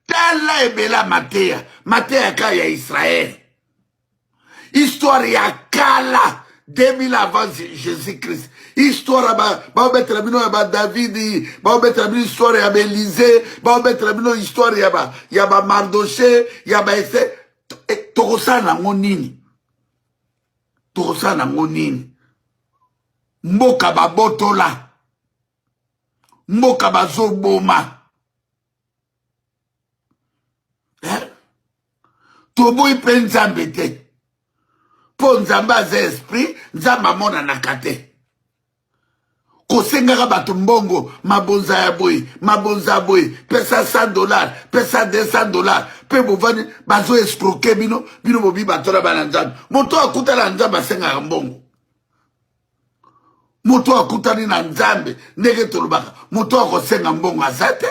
tala ebela mateya mateya ka ya israel histoire ya kala 2000 avant jésus christ histoire baobetela bino ya badavidi baobetela bino histoire ya baelize baobetela bino histoire ya bamardoche ya baese eh, tokosala nango nini tokosala nango nini mboka babotola mboka bazoboma eh? toboyi mpe nzambe te mpo nzambe aza esprit nzambe amonanaka te kosengaka bato mbongo mabonza ya boye mabonza ya boye pesa 100 dollar pesa 200 dollar mpe bovandi bazo escroke bino bino bobi batola bana nzambe moto akutana na nzambe asengaka mbongo moto oyo akutani na nzambe ndenge tolobaka moto oyo akosenga mbongo aza te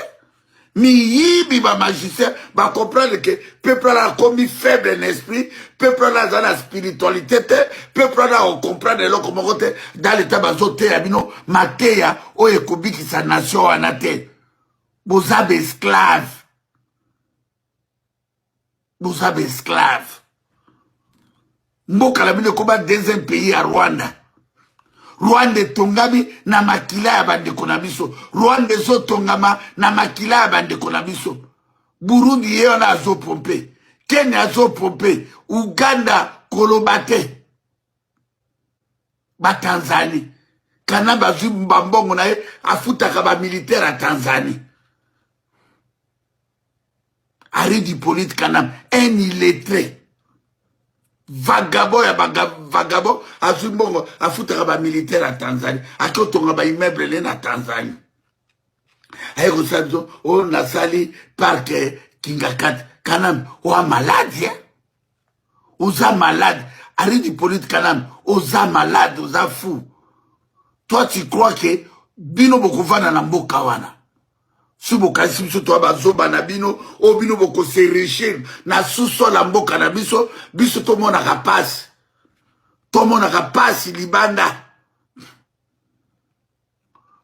miyibi bamagicien bacomprendre ke peuple wana akomi faible na esprit peuple wana aza na spiritualité te peuple wana akocomprendre eloko moko te dans leta bazoteya bino mateya oyo ekobikisa nation wana te boza baesclave boza ba esclave mboka na bino ekoba deuxième pays ya rwanda rwanda etongami na makila ya bandeko na biso rwanda ezotongama na makila ya bandeko na biso burundi ye wana azopompe kenya azopompe uganda koloba te batanzanie kanambe azwi bambongo na ye afutaka bamilitaire ya tanzanie aridi polite kanambe un illettré vagabo ya vagabo azwi mbongo afutaka bamilitaire ya tanzanie ake otonga baimmeuble ne na tanzanie aye kosala biso oyo nasali parke kingakati kanambe oa maladi eh? oza malade aridi polite kanami oza malade oza fou toi tu crois que bino bokovanda na mboka wana si bokanisi biso toya bazoba na bino oyo bino bokoserechir na susol ya mboka na biso biso tomonaka mpasi tomonaka mpasi libanda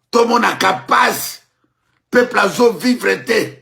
tomonaka mpasi peuple azovivre te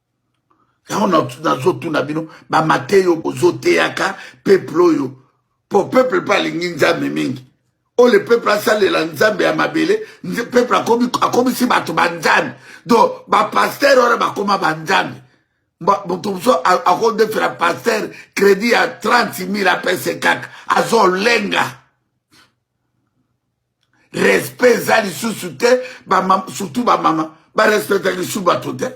yango nazotuna bino bamateyo bozoteyaka peuple oyo po peuple mpe alingi nzambe mingi oyo le peuple asalela nzambe ya mabele peuple akomisi bato banzambe donc bapaster wana bakoma banzambe moto mosusu akodefela paster crédit ya 30 000 apese kaka azolenga respect eza lisusu te surtout bamama barespectaka lisusu bato te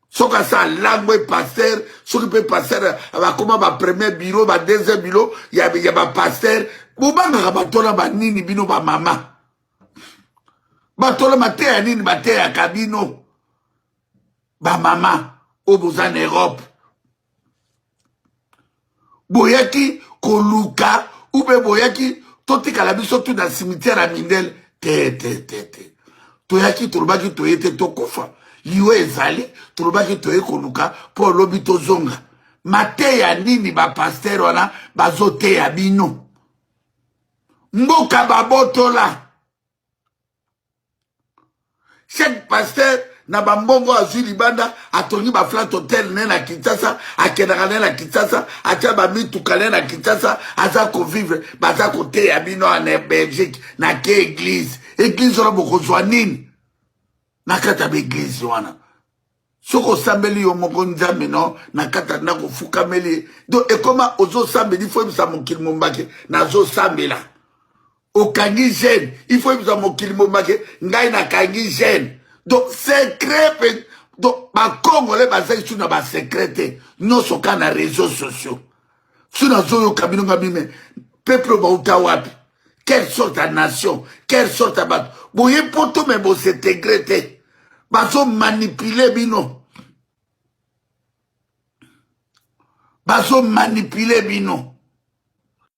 soki asa alango e paster soki mpe paster bakoma bapremier biro badeuxième biro ya bapaster bobangaka batola banini bino bamama batola mateya nini bateyaka bino bamama oyo boza na europe boyaki koluka ube boyaki totikala biso tu na cimetière ya mindele te te te te toyaki tolobaki toye te tokufa liwa ezali tolobaki toye koluka mpo lobi tozonga mateya nini bapastere wana bazoteya bino mboka babotola chaque pasteur na bambongo azwi libanda atongi baflat hotel ne na kinshasa akendaka ne na kinshasa atya bamituka ne na kinshasa aza kovivre baza koteya bino na belgique na ke eglise eglise wana bokozwa nini na kati ya baeglise wana soki osambeli yo moko nzambe no na kati ya ndako ofukameli ye do ekoma ozosambeli ifo yebisa mokili mombake nazosambela okangi gene ifo yebisa mokili mombake ngai nakangi gene do secret pe do bakongole baza isu na basekret te nyonso ka na réseau sociaux so nazoyoka bino nga mime peuple bauta wapi quelle sorte ya nation quelle sorte ya bato boye poto me bosetegre te bazomanipule bino bazomanipule bino